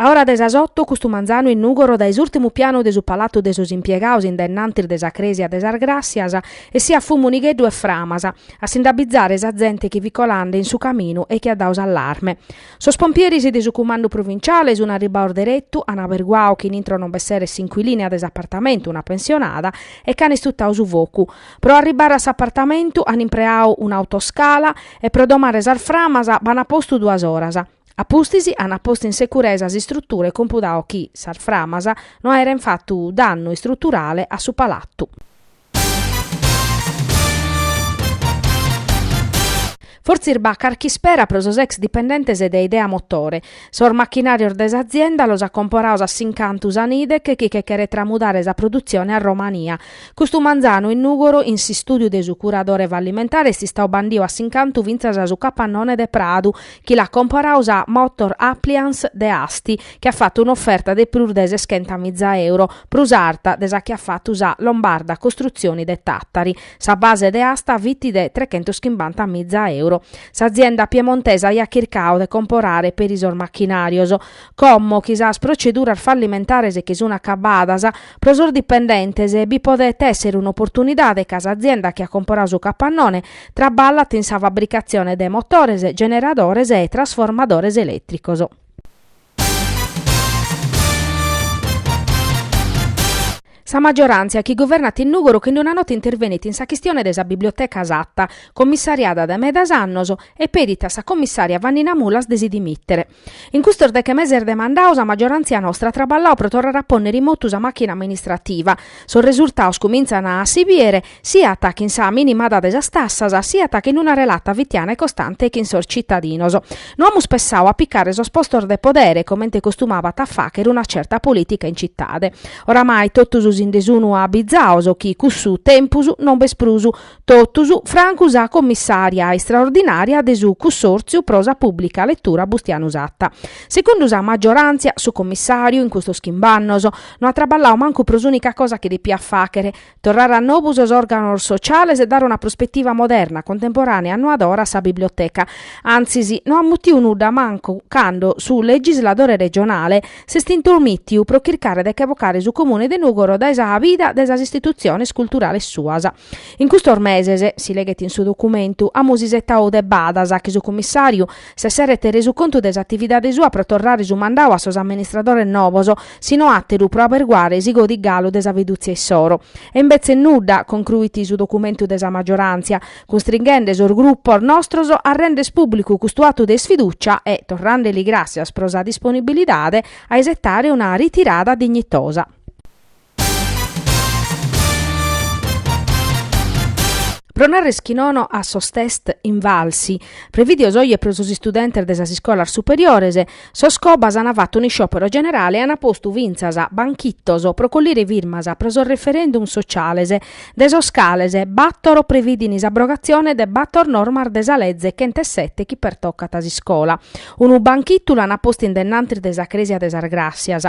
A ora de sas oto custu manzanu in Nùgoro dae s'ùrtimu pianu de su palatu de sos impiegados in dennantis de sa crèsia de sas Gràssias essiat fumu nigheddu e framas a si nd'abbizare sa zente chi fit colende in su caminu e chi at dadu s'allarme. Sos pompieris de su cumandu provinciale sun arribbados deretu, an aberguadu chi in intro non b'esseret s'incuilina de s'apartamentu, una pensionada, e ch'an istutadu su focu. Pro arribbare a s'apartamentu an impreadu un'autoscala e pro domare sas framas b'an postu duas oras. A pustis ant postu in securesa s'istrutura e compudadu chi sas framas no aeren fatu dannu istruturale a su palatu. Fortzis b'at carch'ispera pro sos ex dipendentes de Idea Motore. Sos machinàrios de s'azienda los at comporados a s'incantu sa Nidec chi che cheret tramudare sa produtzione a Romania. Custu manzanu in Nùgoro in s'istùdiu de su curadore fallimentare est istadu bandidu a s'incantu fintzas a su capannone de Pradu chi l'at comporadu sa Motor Appliance de Asti, chi at fatu un'oferta de prus de seschenta miza euro, prus arta de sa chi at fatu sa Lombarda Costruzioni de Tàtari. Sa base de asta fit de trechentos chimbanta miza euro. S'azienda piemontesa aiat chircadu de comporare peri sos machinàrios, Como chi sas proceduras fallimentares chi sun acabadas, pro sos dipendentes bi podet èssere un'oportunidade ca s'azienda chi at comporadu su capannone traballat in sa fabricatzione de motores, generadores e trasformadores elètricos. Sa maggioràntzia chi guvernat in Nùgoro chin d-una nota intervenit in sa chistione de sa biblioteca Satta, commissariada dae medas annos, e pedit a sa commissària Vannina Mulas de si dimìtere. In custos deche meses de mandadu sa maggiorantzia nostra at traballau pro torrare a pònnere in motu sa màchina amministrativa. Sos resurtados cumintzan a si bìdere siat chin sa minimada de sas tassas siat chin una relata fitiana e costante chin sos tzitadinos. No amus pensadu a pigare sos postos de podere, comente costumabat a fàghere una tzerta polìtica in tzitade. Oramai totus si nde sun abizados chi cussu tempus non b'est prus, Totus francu sa commissària istraordinària de su Cussòrtziu pro sa pùblica letura Bustianu Satta. Segundu sa maggioràntzia, su commissàriu, in custos chimb-annos, no at traballau mancu pro s'ùnica cosa chi depiat fàghere, torrare a nobu sos òrganos sociales e dare una prospetiva moderna, contemporànea e annoadora a sa biblioteca. Antzis, no at mutiu nudda mancu cando su legisladore regionale s'est intromìtiu pro chircare de che bocare su Comune de Nùgoro dae sa vida de sas istitutziones culturales suas. In custos meses, si leghet in su documentu, amus isetadu de badas chi su Cummissàriu s'esseret resu contu de s'atividade sua pro torrare su mandadu a sos amministradores novos, si no àteru pro aberguare si godit galu de sa fidùtzia issoro. E imbetzes nudda, concruit su documentu de sa maggioràntzia, cunstrighende sos grupos nostros a render pùblicu custu atu de isfidùcia e, torrande li gràssias pro sa disponibilidade, a isetare una ritirada dignitosa. Pro narrer chi nono a sos test Invalsi, prevìdios oje pro sos istudentes de sas iscolas superiores, sos Cobas ant fattu un'isciòpero generale e ant postu fintzas banchitos pro collire firmas pro sos referendum sociales, de sos cales bator previdin s'abrogatzione de bator normas de sa leze chentesette chi pertocant s'iscola. Unu banchitu l'ant postu in dennantis de sa Crèsia de sas Gràssias.